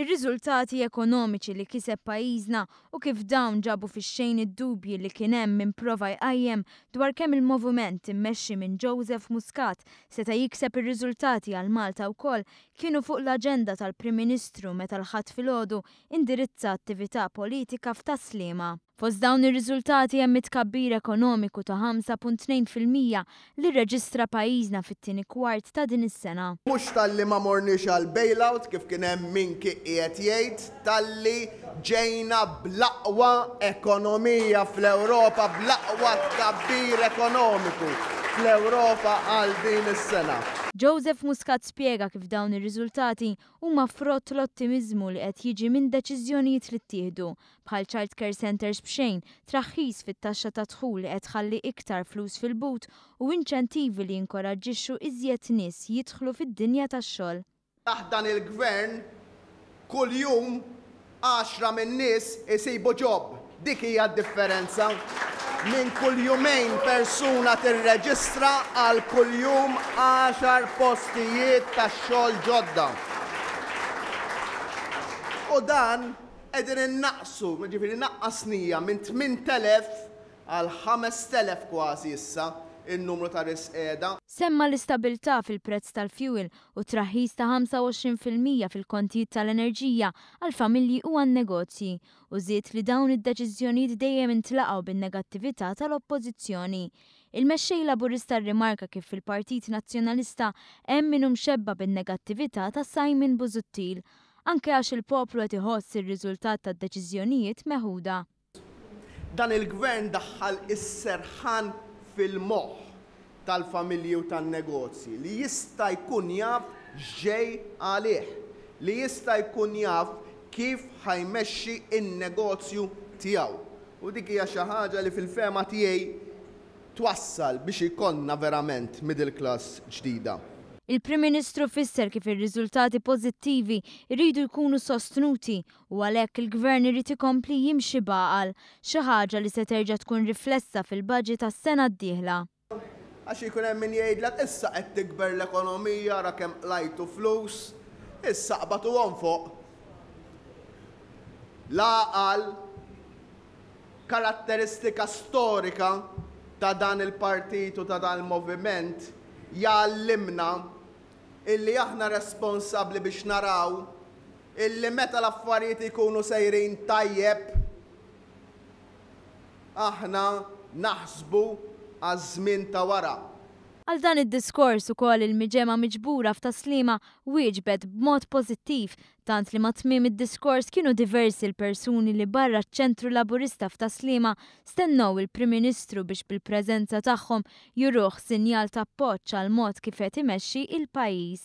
ir-riżultati ekonomiċi li kiseb pajjiżna u kif dawn ġabu fix-xejn id-dubji li kien hemm min prova jqajjem dwar kemm il-moviment immexxi minn Joseph Muscat seta' jikseb ir-riżultati għal Malta wkoll kienu fuq l-aġenda tal-Prim Ministru meta l-Ħadd filgħodu indirizza attività politika f'Tas-Sliema. Fost dawn ir-riżultati hemm it-tkabbir ekonomiku ta' 5.2 fil-mija li rreġistra pajjiżna fit-tieni kwart ta' din is-sena. Mhux talli ma morniex għal bailout kif kien hemm min kien qiegħed jgħid, talli ġejna bl-aqwa ekonomija fl-Ewropa, bl-aqwa tkabbir ekonomiku fl-Ewropa għal din is-sena. Joseph Muscat spjega kif dawn ir-riżultati huma frott l-ottimiżmu li qed jiġi minn deċiżjonijiet li ttieħdu bħal childcare centres b'xejn, traħħis fit-taxxa tad-dħul li qed tħalli iktar flus fil-but u inċentivi li jinkoraġġixxu iżjed nies jidħlu fid-dinja tax-xogħol. Taħt dan il-Gvern, kuljum għaxra min-nies isibu ġob. Dik hija d-differenza. Minn kull jumejn persuna tirreġistra għal kuljum għaxar postijiet tax-xogħol ġodda. U dan Qegħdin innaqqsu, jiġifieri naqqasnija minn 8,000 għal 5,000 kważi issa n-numru ta' risqiegħda. Semma l-istabilità fil-prezz tal-fjuwil u t-traħħis ta' 25 fil-mija fil-kontijiet tal-enerġija għall-familji u għan-negozji u żied li dawn id-deċiżjonijiet dejjem intlaqgħu bin-negattività tal-Oppożizzjoni. Il-Mexxej Laburista rrimarka kif fil-Partit Nazzjonalista hemm min hu mxebba' bin-negattività ta' Simon Busuttil anke għax il-poplu qed iħoss ir-riżultat tad-deċiżjonijiet meħuda. Dan il-Gvern daħħal is-serħan fil-moħħ tal-familji u tan-negozji li jista' jkun jaf x'ġej għalih, li jista' jkun jaf kif ħa jmexxi n-negozju tiegħu. U dik hija xi ħaġa li fil-fehma tiegħi, twassal biex ikollna verament middle class ġdida. Il-Prim Ministru fisser kif ir-riżultati pożittivi jridu jkunu sostnuti u għalhekk il-Gvern irid ikompli jimxi b'għaqal, xi ħaġa li se terġa' tkun riflessa fil-Budget għas-sena d-dieħla. Għax jkun hemm min jgħidlek issa qed tikber l-ekonomija ara kemm qlajtu flus, issa qbatuhom fuq l-għaqal. Karatteristika storika ta' dan il-partit u ta' dan il-moviment jgħallimna illi aħna responsabbli biex naraw illi meta l-affarijiet ikunu sejrin tajjeb aħna naħsbu għaż-żmien ta' wara. Għal dan id-diskors ukoll il-Miġemgħa miġbura f'Tas-Sliema wieġbet b'mod pożittiv Tant li ma' tmiem id-diskors kienu diversi l-persuni li barra ċ-Ċentru Laburista f'Ta' Sliema stennew il-Prim Ministru biex bil-preżenza tagħhom juruh sinjal ta' appoġġ għall-mod kif qed imexxi il-pajjiż.